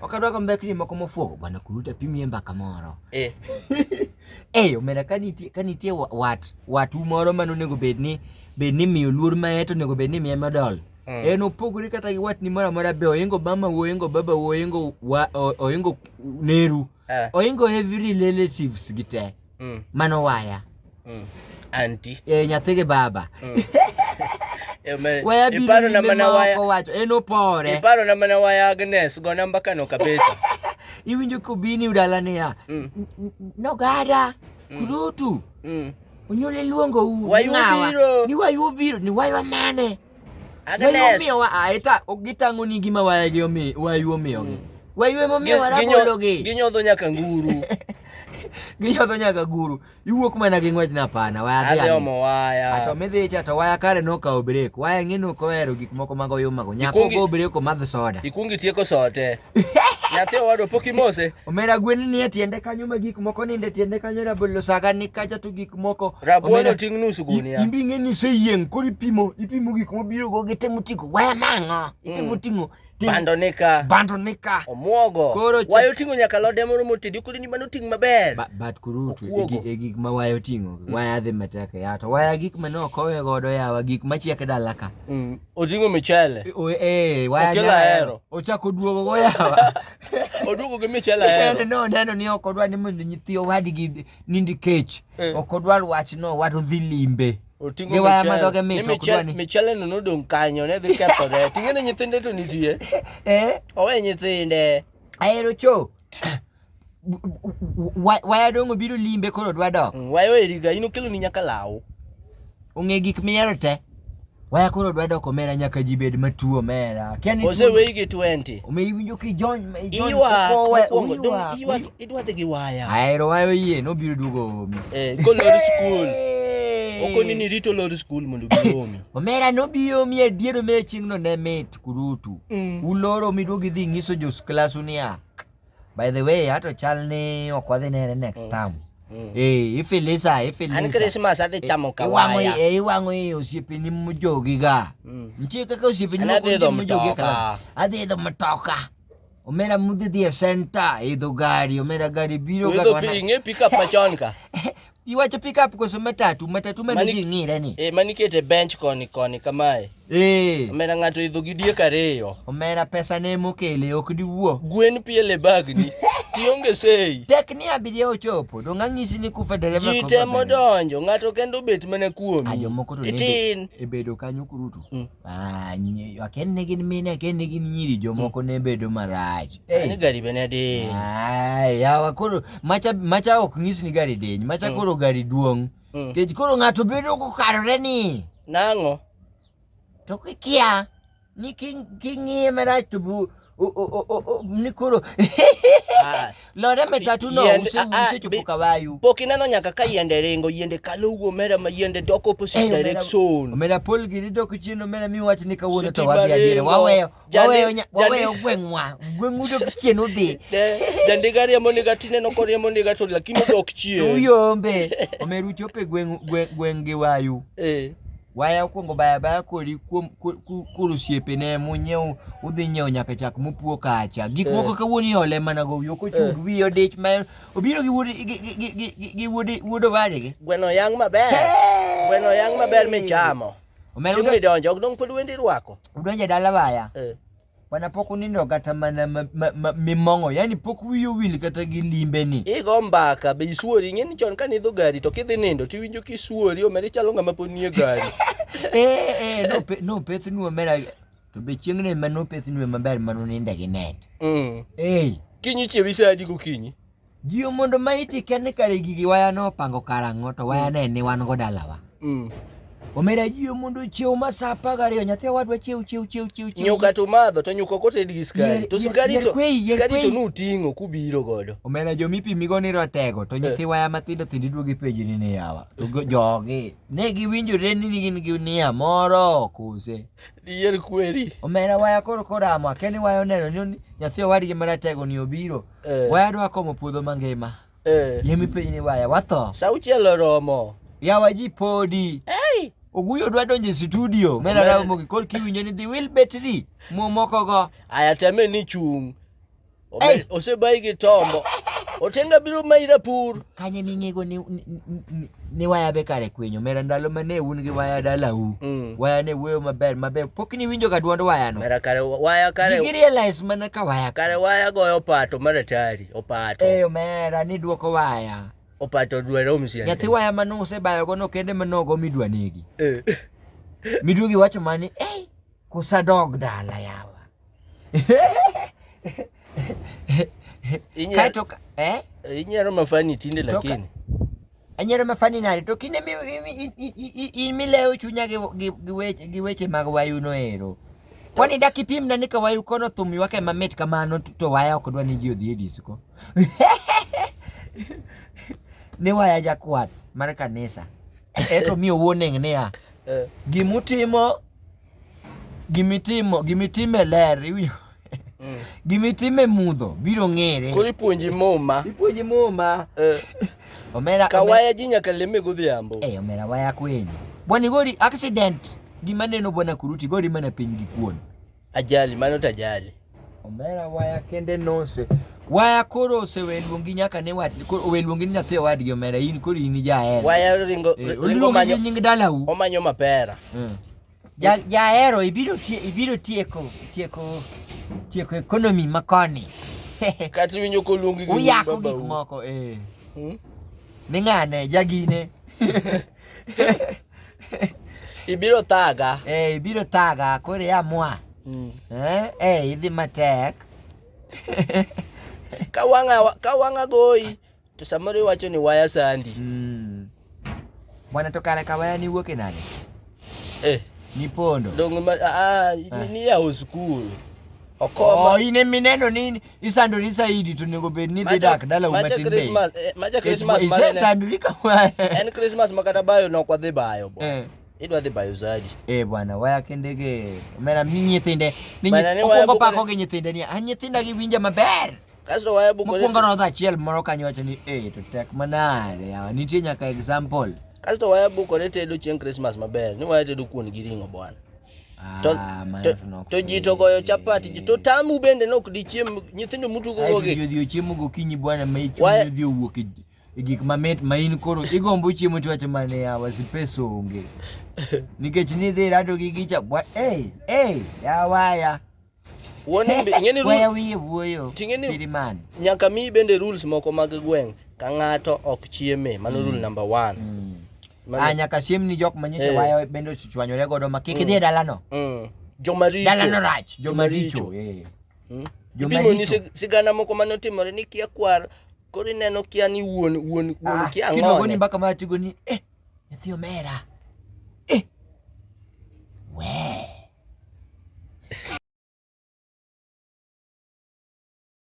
Ok adwa go mbekni moko mofuogo bwana kuruta pimie mbaka moro. Eh. Eh, omera ka nitie ka nitie wa- wat wat u moro ma nonego bed ni bed ni miyo luor ma eto onego bed ni miye medal. Mm. En opogore kata gi watni moro amora be oingo mama wo oingo baba wo oingo wa o- oingo neru. Eh. Oingo every relatives gi te. mm. mano waya mm. anti e, nyathi gi baba mm. waya biro nyime ma ok owacho en opore iparo na mana waya Agnes go namba kano kabisa iwinjo kobini udala niya mm. nogada mm. kurutu mm. onyuol iluongo u ni wayu biro ni wayu amane Agnes. Omiyo wa aeta ok gitango ni gima waye gi omi wayu omiyo gi. Wayu emo miyo wara bolo gi. Ginyodho nyaka nguru. Ginyodho nyaka nguru. Iwuok mana gi ngwech na pana waya gi. Adhi omo waya. Ato midhi cha to waya kare no kawo break. Waya ng'e no kohero gik moko mago yuma go. Nyako go break o madh soda. Ikungi tieko sote. Nyathi owadwa pok imose. Omera gwen ni e tiende kanyo ma gik moko ninde tiende kanyo rabolo saga ni kacha to gik moko. Rabolo ting' nus gunia. Imbi ng'e ni se yieng koro ipimo ipimo gik mobiro go gitemo tiko waya mang'o. Itemo mm. ting'o bando nika bando nika omuogo koro wayo tingo nyaka lode moro motedi kodi ni mano ting maber ba, but kuru tu e gik ma wayo tingo mm. waya dhi matek ya to waya gik ma no kowe godo yawa gik ma chiek dalaka mm. Oting'o michele. O- Eh, waya Okelo nyala ahero. hero. Ochako duogo go yawa. Oduogo gi michele En ahero. no neno ni ok odwar ni mondo nyithi owadgi nindi kech. Eh. Ok odwar wach no wat odhi limbe. Oting'o Gi waya ma dhoge mit, Ni ok dwar michele- ni- Michele no nodong' kanyo ne dhi kethore. Ting'e ne nyithinde to nitie. Eh, Owe nyithinde. ahero cho. waya dong obiro limbe koro dwa dok mm, waya eriga in okelo ni nyaka law ong'e gik miyero te waya koro dwa dok omera nyaka ji bed matuo mera oseweyi gi 20 omeri winjo ki jony idwa dhi gi waya ahero waya oyie nobiro duogo omi eh, kolor skul okoni ni rito lor skul mondo giomi omera nobiomi adier omera chieng'no ne mit kurutu mm. uloro midwogi dhi ng'iso jos klasu niya By the way, hata chalni okwadhi nere next mm. time. Mm. Eh, ifilisa, ifilisa. Ani Christmas adhi eh, chamo kawaya. Eh, iwango eh, osiepe ni mjogi ga. Mm. Mchie kaka osiepe ni mjogi ka. Adhi idho mtoka. Omera mudhi dhi e center, idho gari, omera gari biro kaka wana. Idho pinge pika pachon ka. Iwacho pick up koso matatu? Matatu ma nigi ng'ire ni. Eh, mani kete bench koni koni kamae. Eh. Omera ng'ato idho gi diek ariyo. Omera pesa ne mokele ok diwuo. Gwen piele bag ni. Tionge sei. Tek ni abiria ochopo. Dong ang'isi ni kufa dereva komba. Jite modonjo. Ng'ato kendo bet mana kuomi. Ajo moko to ne e bedo kanyo kurutu. Mm. Ah, aken ne gin mine, aken ne gin nyiri, jomoko mm. ne bedo marach. Hey. Ni gari bene di. Ai, yawa koro macha macha ok nyis ni gari diny. Macha mm. koro gari duong'. Mm. Kech koro ng'ato bedo kokarore ni. Nang'o? To kikia ni king'iye marach to bu ni koro ah. lore metatu no usechopo ah, ah, kawayu pok ineno nyaka ka yiende ringo yiende kalo wuo omera ma yiende dok opposite direction omera pol giri dok chien omera miwach ni kawuono to wadhi adiere waweyo Waweyo nya- waweyo gweng'wa gweng'u dok chien udhi Jandiga riembo niga tineno koriembo niga to lakini odok to chien. uyombe omeru chope gweng' gwe- gweng' gi wayu Eh. waya okwongo baya baya kodi kuom ku- ku- koro osiepene munyiew udhi nyiewo nyaka chak mupuo kacha gik Eh. moko kawuono iole mana go wiyo kochud wiye odich ma obiro gi wuod gi- gi- gi- gi- gi wuod wuod owadgi Gweno yang' maber. Gweno yang' maber michamo. Omera Chiemo idonjo, ok dong' pod wendi rwako. Udonjo e dala baya. Eh. Bwana pok unindo kata mana mimong'o, yani pok wiyi owil kata gi limbe ni. Igo mbaka be isuori, ing'e ni chon kane idho gari to kidhi nindo to iwinjo ka isuori, omera ichalo ng'ama pod nie gari. Eh, eh, nopethnu omera, to be chieng'no ema nopethnu maber mane uninde gi net. Mm. Eh. Kinyi chiewi sa adi gokinyi? Jiwo mondo ma iti ken ni kare gigi waya no pango karang'o to waya ne ni wan go dalawa. Mm. Omera jiwo mondo chiew ma sa apar gariyo nyathi owadwa chiew chiew chiew chiew chiew. Nyuka to madho to nyuka kote digi skari. To skari to skari to nuting'o kubiro godo. Omera jo mipimi go ni rotego to nyathi eh. waya matindo tindo iduogi peji ni ni yawa. Jogi ne giwinjore ni gin gi nia moro kose. Diel kweli. Omera waya koro kora ma keni wayo neno nyoni nyathi wadi gi mara tego ni obiro. Eh. Waya dwa komo puodho mangima. Eh. Yemi piny ni waya watho. Sauchiel oromo. Yawa ji podi. Hey. Oguyo dwa donje studio. Mera rawo mogi kor kiwinjo ni dhi wil betri. Mo moko go. Aya teme ni chung. Osebayi gi tombo. Otenga biro mayi rapur. Kanye ming'ego ni ni waya be kare kwenyo mera ndalo ma ne un gi waya dalau mm. waya ne wuoyo maber maber pok ni winjo ga dwond waya no mera kare waya kare gigi realize mana ka waya kare waya goyo pato mara tari opato eyo mera ni duoko waya opato dwere omsiende nyathi waya mano usebayogo no kende manogo midwa negi eh. midwogi wacho mani eh kusadog dala yawa Inyalo- Kaeto- eh? inyalo mafani tinde Toka- lakini anyero mafani nade to kinde mi- mi- i- i- i- i- in milewo chunya gi- gi- gi weche- gi weche mag wayu noero kwani dak ipimna ni ka wayu kono thum ywake mamit kamano to- to waya ok dwa ni ji odhi e disko ni waya jakwath mar kanisa eto mi owuon eng' niya Eh. Gimutimo gimitimo gimitime ler iwinjo mm. gimitime mudho biro ng'ere. Koro ipuonji muma. Ipuonji muma. Eh. Omera kawaya ji nyaka leme godhiambo. Eh, omera waya kweli. Bwana gori accident gima neno bwana kuruti gori mana piny gi kuon. Ajali, mano to ajali. Omera waya kende nose. Waya koro osewe luongi nyaka ne wat koro owe luongi ni nyathi owadgi omera in koro in jaher. Waya ringo eh, ringo manyo nying dalau. Omanyo mapera. Mm. Ja jahero ibiro tie ibiro tieko tieko tieko economy makoni. Kati winyo ko luongi gi baba. Uyako gik moko eh. Hmm? Ni ngane jagine. Ibiro thaga. Eh, ibiro thaga koro ya mwa. Mm. Eh, eh idhi matek. ka wanga ka wanga goyi to samoro iwacho ni waya sandi. Mm. Bwana to kare ka waya ni wuok e nade? Eh, ni pondo. Dongo ma a ah, ah, ni ya school. Okoma. Oh, ine mineno nini? isandori saidi to onego bed ni dhi dak dala u matin be eh, isandori kamano en christmas ma kata bayo nok wadhi bayo bo eh. idwa dhi bayo zadi eh bwana waya kende ge mera mi nyithinde ni okwongo pako gi nyithinde ni a ah, nyithinda gi winja maber kasto waya buko mokwongo rodho achiel moro kanyo wacho ni eh to tek manade yawa ah, nitie nyaka example kasto waya bukore tedo chieng christmas maber ni waya tedo kuon gi ring'o bwana to ah, to ji to goyo chapati ji to tamu bende ne ok dichiem nyithindo mutugogogi ji odhi ochiemo gokinyi bwana ma ichunyi odhi owuok e, e gik mamit ma in koro igombo chiemo to wacho mane yawa si pesa onge nikech nidhi rado gi gicha bwa ey ey yawaya Wuon imbe ingeni rule. Wewe wiye wuoyo. Tingeni Biriman. Nyaka mi bende rules moko mag gweng' ka ng'ato ok chieme. Mano rule mm. number 1. Mm. Mano... Ah, nyaka siem ni jok manyite hey. Eh. wayo bende ochichwanyore godo ma kik mm. dhie dalano. Mm. Joma richo. Dalano rach, joma richo. Eh. Mm. Joma richo. Ni sigana moko mane otimore ni kia kwar koro ineno kia ni wuon wuon wuon ah, kia ng'o. Kiluongo ni mbaka ma tigo ni eh Nyathi omera. Eh. Wee.